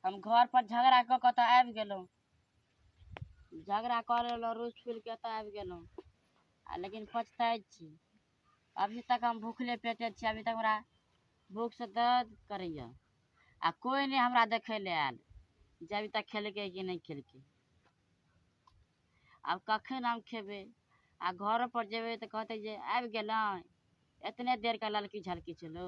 हम घर पर झगड़ा कऽ कऽ तऽ आबि गेलहुँ झगड़ा कऽ लेलहुँ रोज फूल के एतऽ आबि गेलहुँ आ लेकिन पछताइ छी अभी तक हम भूखले पेटे छी अभी तक हमरा भूखसँ दर्द करैए आ कोइ नहि हमरा देखै लए आयल जे अभी तक खेलकै कि नहि खेलकै आब कखन हम खेबै आ घरो पर जेबै तऽ कहतै जे आबि गेलहुँ एतने देरके ललकी झलकी छलौ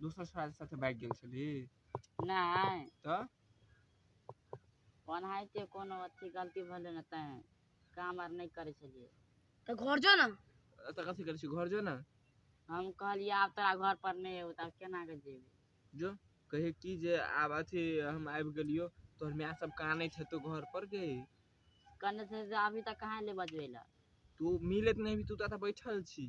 दोसर साल साथे भागि गेल छली नहि तऽ ओनाहिते कोनो अथी गलती भेलै ने तैं काम आर नहि करै छलियै तऽ घर जो ने एतऽ कथी करै छी घर जो ने हम कहलियै आब तोरा घर पर नहि एबौ तऽ आब केना कऽ जेबै जो कहे की जे आब अथी हम आबि गेलियो तोहर माय सब कानैत हेतौ घर पर गे कने से से अभी तक कहाँ ले बजबै लए तू मिलैत नहि भी तू तऽ एतऽ बैठल छी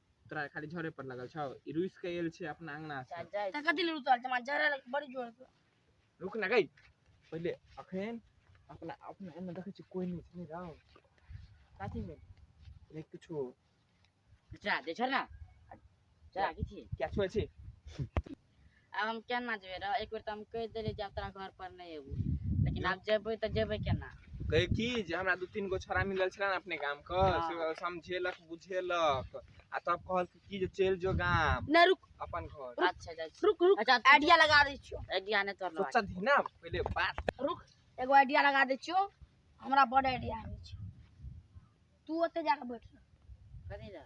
तोरा खाली झरे पर लगल छौ ई रुस के आयल छै अपना अंगना से त कथि ले रुतल जमा जरा बड़ी जोर के रुक ना गई पहले अखन अपना अपना एने देखै छी कोई नहीं छै नहीं रहो साथी में देख किछो जा दे झरना जा किछि क्या छुए छी आब हम केना जेबै रह एक बेर तऽ हम कहि देलियै जे आब तोरा घर पर नहि एबू लेकिन आब जेबै तऽ जेबै केना कहै की जे हमरा दू तीन गो छोड़ा मिलल छलै ने अपने गाम के हाँ। से ओ समझेलक बुझेलक आ तब कहलक की जे चलि जो गाम नहि रुक अपन घर अच्छा जा रुक रुक अच्छा, तू- आइडिया लगा दै छियो आइडिया नहि तोर लगा सोचल ही ना पहिले बात रुक एगो आइडिया लगा दै छियो हमरा बड़ आइडिया आबै छै तू ओते जाके बैठ रह। कथी लए